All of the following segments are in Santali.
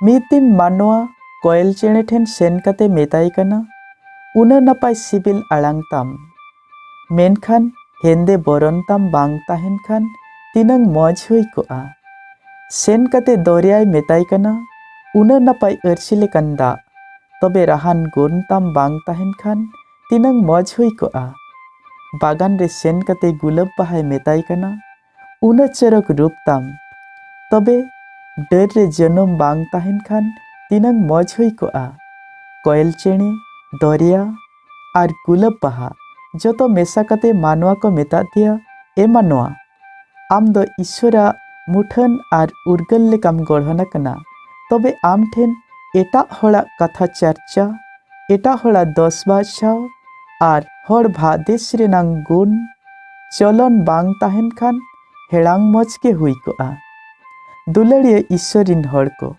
ᱢᱤᱫ ᱫᱤᱱ ᱢᱟᱱᱣᱟ ᱠᱚᱭᱮᱞ ᱪᱮᱬᱮ ᱴᱷᱮᱱ ᱥᱮᱱ ᱠᱟᱛᱮ ᱢᱮᱛᱟᱭ ᱠᱟᱱᱟ ᱩᱱᱟᱹᱜ ᱱᱟᱯᱟᱭ ᱥᱤᱵᱤᱞ ᱟᱲᱟᱝ ᱛᱟᱢ ᱢᱮᱱᱠᱷᱟᱱ ᱦᱮᱸᱫᱮ ᱵᱚᱨᱚᱱ ᱛᱟᱢ ᱵᱟᱝ ᱛᱟᱦᱮᱱ ᱠᱷᱟᱱ ᱛᱤᱱᱟᱹᱝ ᱢᱚᱡᱽ ᱦᱩᱭ ᱠᱚᱜᱼᱟ ᱥᱮᱱ ᱠᱟᱛᱮ ᱫᱚᱨᱭᱟᱭ ᱢᱮᱛᱟᱭ ᱠᱟᱱᱟ ᱩᱱᱟᱹᱜ ᱱᱟᱯᱟᱭ ᱟᱹᱨᱥᱤ ᱞᱮᱠᱟᱱ ᱫᱟᱜ ᱛᱚᱵᱮ ᱨᱟᱦᱟᱱ ᱜᱩᱱ ᱛᱟᱢ ᱵᱟᱝ ᱛᱟᱦᱮᱱ ᱠᱷᱟᱱ ᱛᱤᱱᱟᱹᱝ ᱢᱚᱡᱽ ᱦᱩᱭ ᱠᱚᱜᱼᱟ᱾ ᱵᱟᱜᱟᱱ ᱨᱮ ᱥᱮᱱ ᱠᱟᱛᱮ ᱜᱩᱞᱟᱹᱵᱽ ᱵᱟᱦᱟᱭ ᱢᱮᱛᱟᱭ ᱠᱟᱱᱟ, ᱩᱱᱟᱹᱜ ᱪᱚᱨᱚᱠ ᱨᱩᱯ ᱛᱟᱢ᱾ ᱛᱚᱵᱮ ᱰᱟᱹᱨ ᱨᱮ ᱡᱟᱹᱱᱩᱢ ᱵᱟᱝ ᱛᱟᱦᱮᱱ ᱠᱷᱟᱱ ᱛᱤᱱᱟᱹᱝ ᱢᱚᱡᱽ ᱦᱩᱭ ᱠᱚᱜᱼᱟ᱾ ᱠᱚᱭᱮᱞ ᱪᱮᱬᱮ, ᱫᱚᱨᱭᱟ ᱟᱨ ᱜᱩᱞᱟᱹᱵᱽ ᱵᱟᱦᱟ ᱡᱚᱛᱚ ᱢᱮᱥᱟ ᱠᱟᱛᱮ ᱢᱟᱱᱣᱟ ᱠᱚ ᱢᱮᱛᱟᱫ ᱫᱮᱭᱟ, ᱮ ᱢᱟᱱᱣᱟ! ᱟᱢ ᱫᱚ ᱤᱥᱣᱚᱨᱟᱜ ᱢᱩᱴᱷᱟᱹᱱ ᱟᱨ ᱩᱨᱜᱟᱹᱞ ᱞᱮᱠᱟᱢ ᱜᱚᱲᱦᱚᱱ ᱟᱠᱟᱱᱟ ᱛᱚᱵᱮ ᱟᱢ ᱴᱷᱮᱱ ᱮᱴᱟᱜ ᱦᱚᱲᱟᱜ ᱠᱟᱛᱷᱟ ᱪᱟᱨᱪᱟ ᱮᱴᱟᱜ ᱦᱚᱲᱟᱜ ᱫᱚᱥ ᱵᱟᱪᱷᱟᱣ ᱟᱨ ᱦᱚᱲ ᱵᱷᱟᱫᱮᱥ ᱨᱮᱱᱟᱝ ᱜᱩᱱ ᱪᱚᱞᱚᱱ ᱵᱟᱝ ᱛᱟᱦᱮᱱ ᱠᱷᱟᱱ ᱦᱮᱲᱟᱝ ᱢᱚᱡᱽ ᱜᱮ ᱦᱩᱭ ᱠᱚᱜᱼᱟ ᱫᱩᱞᱟᱹᱲᱤᱭᱟᱹ ᱤᱥᱣᱚᱨ ᱨᱤᱱ ᱦᱚᱲ ᱠᱚ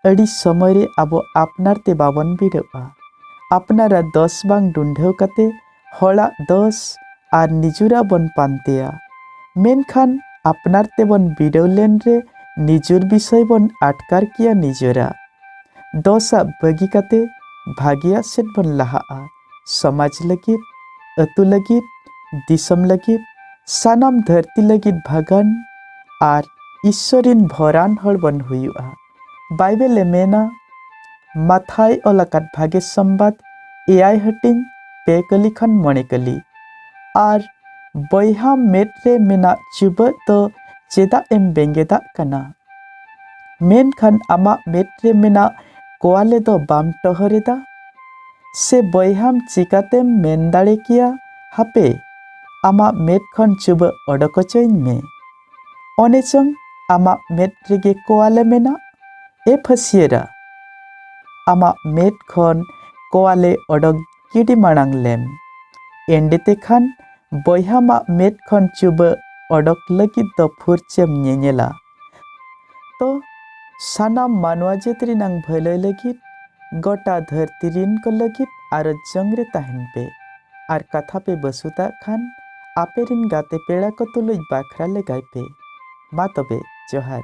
ᱟᱹᱰᱤ ᱥᱚᱢᱚᱭ ᱨᱮ ᱟᱵᱚ ᱟᱯᱱᱟᱨ ᱛᱮ ᱵᱟᱵᱚᱱ ᱵᱤᱰᱟᱹᱜᱼᱟ ᱟᱯᱱᱟᱨᱟᱜ ᱫᱚᱥ ᱵᱟᱝ ᱰᱩᱸᱰᱷᱟᱹᱣ ᱠᱟᱛᱮ ᱦᱚᱲᱟᱜ ᱫᱚᱥ ᱟᱨ ᱱᱤᱡᱩᱨᱟᱜ ᱵᱚᱱ ᱯᱟᱱᱛᱮᱭᱟ ᱢᱮᱱᱠᱷᱟᱱ ᱟᱯᱱᱟᱨ ᱛᱮᱵᱚᱱ ᱵᱤᱰᱟᱹᱣ ᱞᱮᱱ ᱨᱮ ᱱᱤᱡᱩᱨ ᱵᱤᱥᱚᱭ ᱵᱚᱱ ᱟᱴᱠᱟᱨ ᱠᱮᱭᱟ ᱱᱤᱡᱚᱨᱟᱜ ᱫᱚᱥᱟᱜ ᱵᱟᱹᱜᱤ ᱠᱟᱛᱮ ᱵᱷᱟᱜᱮᱭᱟᱜ ᱥᱮᱫ ᱵᱚᱱ ᱞᱟᱦᱟᱜᱼᱟ ᱥᱚᱢᱟᱡᱽ ᱞᱟᱹᱜᱤᱫ ᱟᱹᱛᱩ ᱞᱟᱹᱜᱤᱫ ᱫᱤᱥᱚᱢ ᱞᱟᱹᱜᱤᱫ ᱥᱟᱱᱟᱢ ᱫᱷᱟᱹᱨᱛᱤ ᱞᱟᱹᱜᱤᱫ ᱵᱷᱟᱜᱟᱱ ᱟᱨ ᱤᱥᱥᱚᱨᱤᱱ ᱵᱷᱚᱨᱟᱱ ᱦᱚᱲ ᱵᱚᱱ ᱦᱩᱭᱩᱜᱼᱟ ᱵᱟᱭᱵᱮᱞ ᱮ ᱢᱮᱱᱟ ᱢᱟᱛᱷᱟᱭ ᱚᱞ ᱟᱠᱟᱫ ᱵᱷᱟᱜᱮ ᱥᱚᱢᱵᱟᱫ ᱮᱭᱟᱭ ᱦᱟᱹᱴᱤᱧ ᱯᱮ ᱠᱟᱹᱞᱤ ᱠᱷᱚᱱ ᱢᱚᱬᱮ ᱠᱟᱹᱞᱤ ᱟᱨ ᱵᱚᱭᱦᱟ ᱢᱮᱫ ᱨᱮ ᱢᱮᱱᱟᱜ ᱪᱩᱵᱟᱹᱜ ᱫᱚ ᱪᱮᱫᱟᱜ ᱮᱢ ᱵᱮᱸᱜᱮᱫᱟᱜ ᱠᱟᱱᱟ ᱢᱮᱱᱠᱷᱟᱱ ᱟᱢᱟᱜ ᱢᱮᱫ ᱨᱮ ᱢᱮᱱᱟᱜ ᱠᱚᱣᱟᱞᱮ ᱫᱚ ᱵᱟᱢ ᱴᱚᱦᱚᱨᱮᱫᱟ ᱥᱮ ᱵᱚᱭᱦᱟᱢ ᱪᱤᱠᱟᱛᱮᱢ ᱢᱮᱱ ᱫᱟᱲᱮ ᱠᱮᱭᱟ ᱦᱟᱯᱮ ᱟᱢᱟᱜ ᱢᱮᱫ ᱠᱷᱚᱱ ᱪᱩᱵᱟᱹ ᱚᱰᱚᱠ ᱚᱪᱚᱧ ᱢᱮ ᱚᱱᱮ ᱪᱚᱝ ᱟᱢᱟᱜ ᱢᱮᱫ ᱨᱮᱜᱮ ᱠᱚᱣᱟᱞᱮ ᱢᱮᱱᱟᱜ ᱮ ᱯᱷᱟᱹᱥᱤᱭᱟᱹᱨᱟ ᱟᱢᱟᱜ ᱢᱮᱫ ᱠᱷᱚᱱ ᱠᱚᱣᱟᱞᱮ ᱚᱰᱚᱠ ᱠᱤᱰᱤ ᱢᱟᱲᱟᱝ ᱞᱮᱢ ᱮᱸᱰᱮ ᱛᱮᱠᱷᱟᱱ ᱵᱚᱭᱦᱟ ᱢᱟᱜ ᱢᱮᱫ ᱠᱷᱚᱱ ᱪᱩᱵᱟᱹ ᱚᱰᱚᱠ ᱞᱟᱹᱜᱤᱫ ᱫᱚ ᱯᱷᱩᱨᱪᱮᱢ ᱧᱮᱧᱮᱞᱟ ᱛᱚ ᱥᱟᱱᱟᱢ ᱢᱟᱱᱣᱟ ᱡᱟᱹᱛ ᱨᱮᱱᱟᱝ ᱵᱷᱟᱹᱞᱟᱹᱭ ᱞᱟᱹᱜᱤᱫ ᱜᱚᱴᱟ ᱫᱷᱟᱹᱨᱛᱤ ᱨᱤᱱ ᱠᱚ ᱞᱟᱹᱜᱤᱫ ᱟᱨᱚ ᱡᱚᱝ ᱨᱮ ᱛᱟᱦᱮᱱ ᱯᱮ ᱟᱨ ᱠᱟᱛᱷᱟ ᱯᱮ ᱵᱟᱹᱥᱩᱛᱟᱜ ᱠᱷᱟᱱ ᱟᱯᱮ ᱨᱤᱱ ᱜᱟᱛᱮ ᱯᱮᱲᱟ ᱠᱚ ᱛᱩᱞᱩᱡ ᱵᱟᱠᱷᱨᱟ ᱞᱮᱜᱟᱭ ᱯᱮ ᱢᱟ ᱛᱚᱵᱮ ᱡᱚᱦᱟᱨ